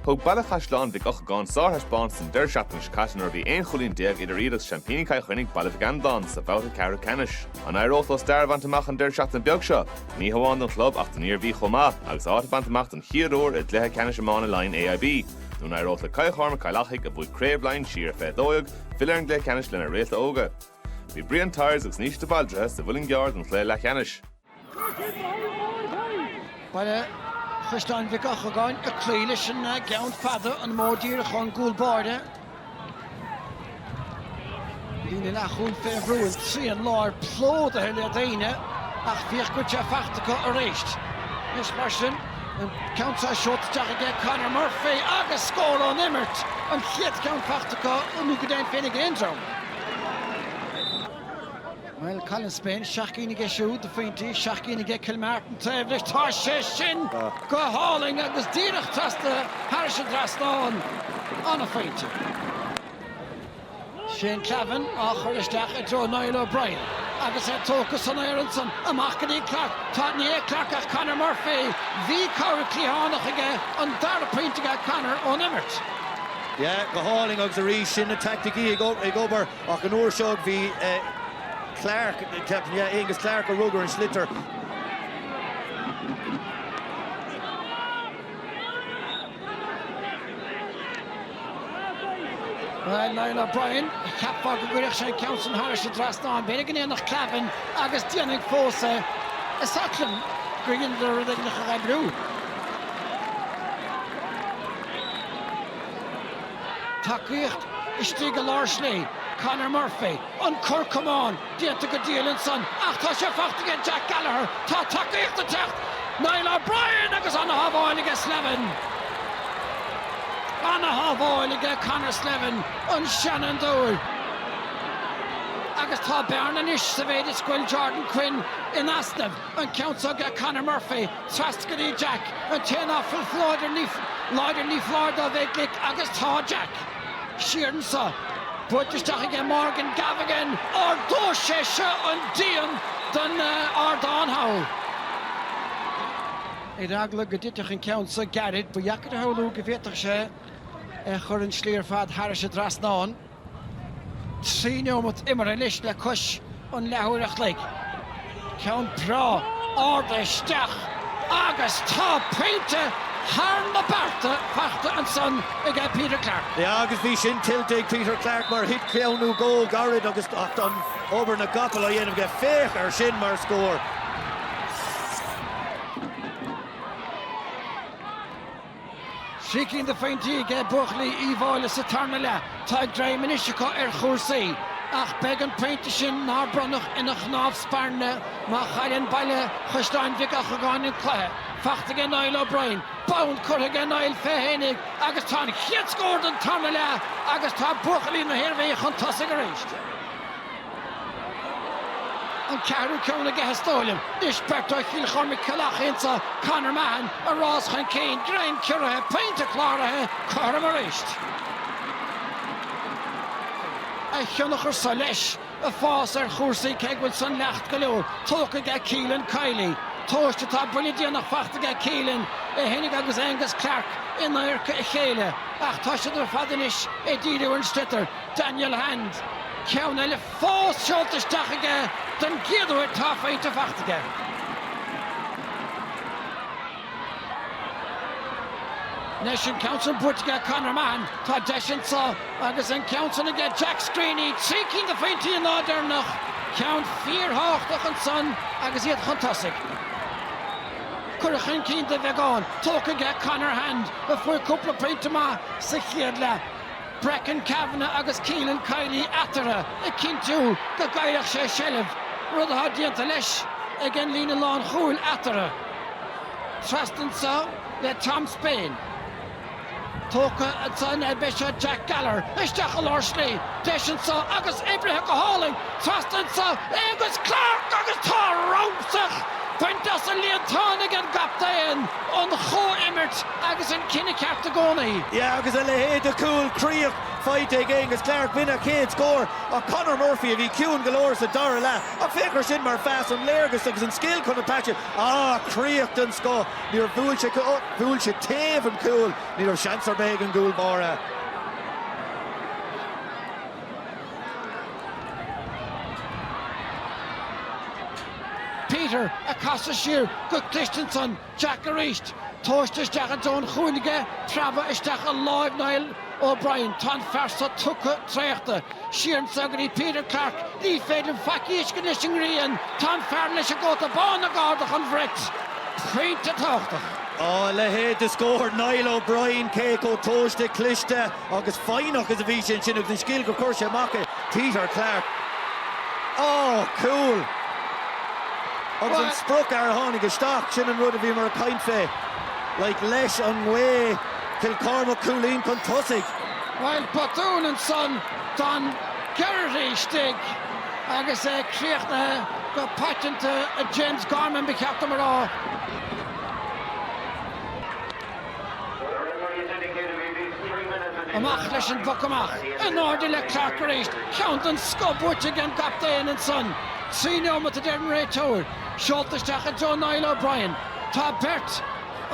Thug Baile Chaisleán Mhic Eochagáin sárthaispeántas an deireadh seachtaine seo caite nuair a bhí aon chúilín déag idir iad agus seaimpíní Chill Chainnigh, Baile Mhic Andáin, sa bhabhta ceathrú ceannais. An éireoidh leo stair a bhaint amach an deireadh seachtaine beag seo, ní hamháin don chlub ach don Iarmhí chomh maith, agus áit a bhaint amach den chéad uair i gcluiche ceannais iomána Laighean AIB? Nó an éireoidh le Cill Chormaic Chill Achaidh, a bhuaigh Craobh Laighean siar i bhfiche dó dhéag, filleadh ar an gcluiche ceannais lena réalta óga? Bhí Brian Tyers agus Naoise de Bhaldraithe sa Mhuileann gCearr don chluiche leathcheannais. Baile Chaisleáin Mhic Eochagáin ag cloí leis an gceann fada, an modh díreach ón gcúl báire. Líne leathchúil fé bhrú, an trian láir plódaithe le daoine ach féach cad tá fachta acu arís. Anois mar sin, an ceann seo seolta isteach aige Conor Murphy agus scór ón imirt, an chéad cheann fachta acu nó go deimhin féin ag aon dream. Bhuel, Colin Spain seacht gcinn aige siúd, de phointí, seacht gcinn aige Kilmartin taobh leis. Tá sé sin go hálainn agus díreach teasctha thairis an dtrasnán an-phointe. Shane Clavin á chur isteach i dtreo Niall O'Brien agus é tógtha san aer ansan. Amach go dtí Clarke. Tá, ní hé Clarke ach Conor Murphy. Bhí cabhair chliathánach aige, an dara pointe aige Conor ón imirt. Yeah, go hálainn agus arís sin na taicticí ag obair. Ach an uair seo bhí Clarke, ceapaim, yeah, Aonghus Clarke a rug ar an sliotar. Bhuel, Niall O'Brien, cheapfá go gcuirfeadh sé an ceann sin thairis an dtrasnán. B'fhéidir go ndéanfadh Clavin agus déanfaidh fós é. Is oth liom gur dhéanadar rud éigin a chomhoibriú. Tacaíocht istigh i lár slí. Conor Murphy, an cor camáin déanta go diail ansan ach tá sé fachta aige Jack Gallagher, tá tacaíocht ag teacht! Niall O'Brien agus an-shábháil aige Slevin. An-shábháil aige Conor Slevin, an seanfhondúir. Agus tá bearna anois sa mhéid is go bhfuil Jordan Quinn in easnamh, an ceann seo aige Conor Murphy. Teasctha go dtí Jack an té nach bhfuil láidir ní foláir dó bheith glic agus tá Jack. Siar anso. Buailte isteach aige Morgan Gavigan. Ardóidh sé seo an díon den ardán thall. Ar eagla go dtitfeadh an ceann so gairid ba dheacair a shamhlú go bhféadfadh sé é a chur an slí ar fad thairis an dtrasnán. Trí neomat imeartha anois le cois an leathuair an chloig. Ceann breá ard isteach agus tá pointe thar na bearta faighte ansan ag Peter Clarke. Yeah agus bhí sin tuillte ag Peter Clarke mar thit claonadh go gairid agus ach d'fhan obair na gcapall a dhéanamh aige. Féach ar sin mar scór! Trí cinn de phointí aige buachaillí Uíbh Fhailí sa tarna leath. Tá greim anois acu ar chúrsaí. Ach beidh an pointe sin nár bronnadh ina chnámh spairne má chailleann Baile Chaisleáin Mhic Eochagáin an cluiche. Faighte aige Niall O'Brien. Bonn curtha aige Niall fé fhéinig agus tá an chéad scór den tarna leath agus tá buachaillí na hIarmhí chun tosaigh arís. an ceathrú ceann aige is dóigh liom. D'imreoir Chill Chormaic Cill Achaidh anso Conor Mahon ag rás chun cinn, greim cuirithe, pointe cláraithe, cothrom arís. a thionchar sa leis ag fás ar chúrsaí cé go bhfuil sleaic go leor tógtha aige Keelan Kiley, tomhaiste Tá buille déanach faighte aige Keelan fhéinig agus Angus Clarke in adharca a chéile ach tá siad ar fad anois ag díriú ar an sliotar. Daniel Hand, ceann eile fós seolta isteach aige don gcéad uair dhá phointe faighte aige. Anois an ceann sin buaite aige Conor Mahon, tá deis anseo agus an ceann sin aige Jack Screeney, trí cinn de phointí an lá deireanach, ceann fíorthábhachtach ansan agus iad chun tosaigh. Curtha chun cinn de bheagán tógtha aige Conor Hand, a fuair cúpla pointe maith sa chéad leath. Brecon Kavanagh agus Keelan Kiely eatarthu ag cinntiú go gcaillfeadh sé seilbh, rud atá déanta leis ag an líne lánchúil eatarthu. Trasna anseo le Tom Spain. Tógtha ansan aige seo Jack Gallagher isteach i lár slí. Deis anseo agus oibrithe go hálainn trasna anseo. Aongus Clarke agus tá romhsach bainte as an líontán ag an gcaptaen. Ón chomhimirt. Agus an cinneadh ceart i gcónaí. Yeah agus a leithéid de chúl críoch faighte ag Aonghus Clarke. B'in a chéad scór ach Conor Murphy a bhí ciúin go leor sa dara leath. Ach féach air sin mar phas, an léargas agus an scil chun an pas, ah críoch den scoth. Níor bhuail sé, bhuail sé taobh an chúil, ní raibh seans ar bith ag an gcúl báire. Peter ag casadh siar go cliste ansan. Jack arís. Tomhaiste isteach ins an chúinne aige, preabadh isteach i láimh Niall O'Brien. Tá an fear so tugtha traochta. Siar anso go dtí Peter Clarke. Ní féidir faic a fheiscint leis an ngrian. Tá an fear leis an gcóta bán ag ardach an bhrait. Pointe tábhachtach. Á, a leithéid de scór! Niall O'Brien, cé chomh tomhaiste, cliste agus foighneach is a bhí sé ansin agus an scil gur chuir sé amach é, Peter Clarke. Á! Cúl! Agus an spriocfhear a tháinig isteach, sin an rud a bhíomar ag caint fé. Like leis an ngaoth, Cill Cormac cúilín chun tosaigh. Bhuel, botún ansan don Gherry istigh agus é críochnaithe go paiteanta ag James Gorman, ba cheart dom a rá. Amach leis an bpoc amach in airde le Clarke arís. Ceann den scoth buaite ag an gcaptaen ansan. Trí neomat a deir an réiteoir. Seolta isteach i dtreo Niall O'Brien. Tá beirt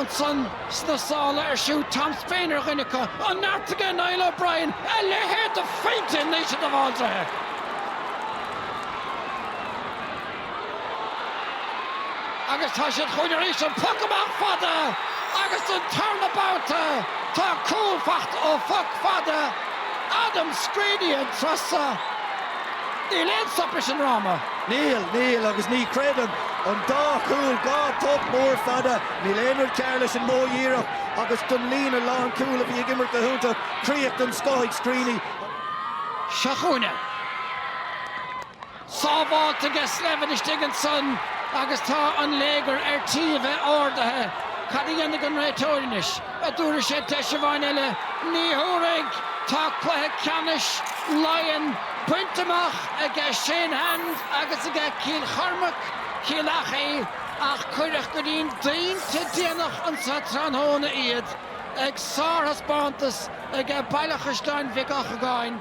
ansan sna sálaibh ar siúd. Tom Spain ar dhuine acu. An neart aige Niall O'Brien! A leithéad de phointe ó Niall O'Brien! Agus tá siad chugainn arís, an poc amach fada agus don tarna babhta tá cúl faighte ó phoc fada, Adam Screeney an turas so. Níl aon stop leis an ndráma. Níl, níl agus ní chreidim. An dá chúl, dhá phoc mór fada, níl aon rud cearr leis an modh díreach agus don líne lánchúl a bhí ag imirt go hiontach, críoch den scoth ag Screeney. Seo chugainn é. Sábháilte aige Slevin istigh ansan agus tá an léigear ar tí a bheith ardaithe. Cad a dhéanfaidh an réiteoir anois? a dtabharfaidh sé deis amháin eile. Ní thabharfaidh! Tá cluiche ceannais Laighean bainte amach aige Shane Hand agus aige Cill Chormaic, Cill Achaidh ach cuireadh go dtí an pointe déanach anso tráthnóna iad ag sárthaispeántas aige Baile Chaisleáin Mhic Eochagáin.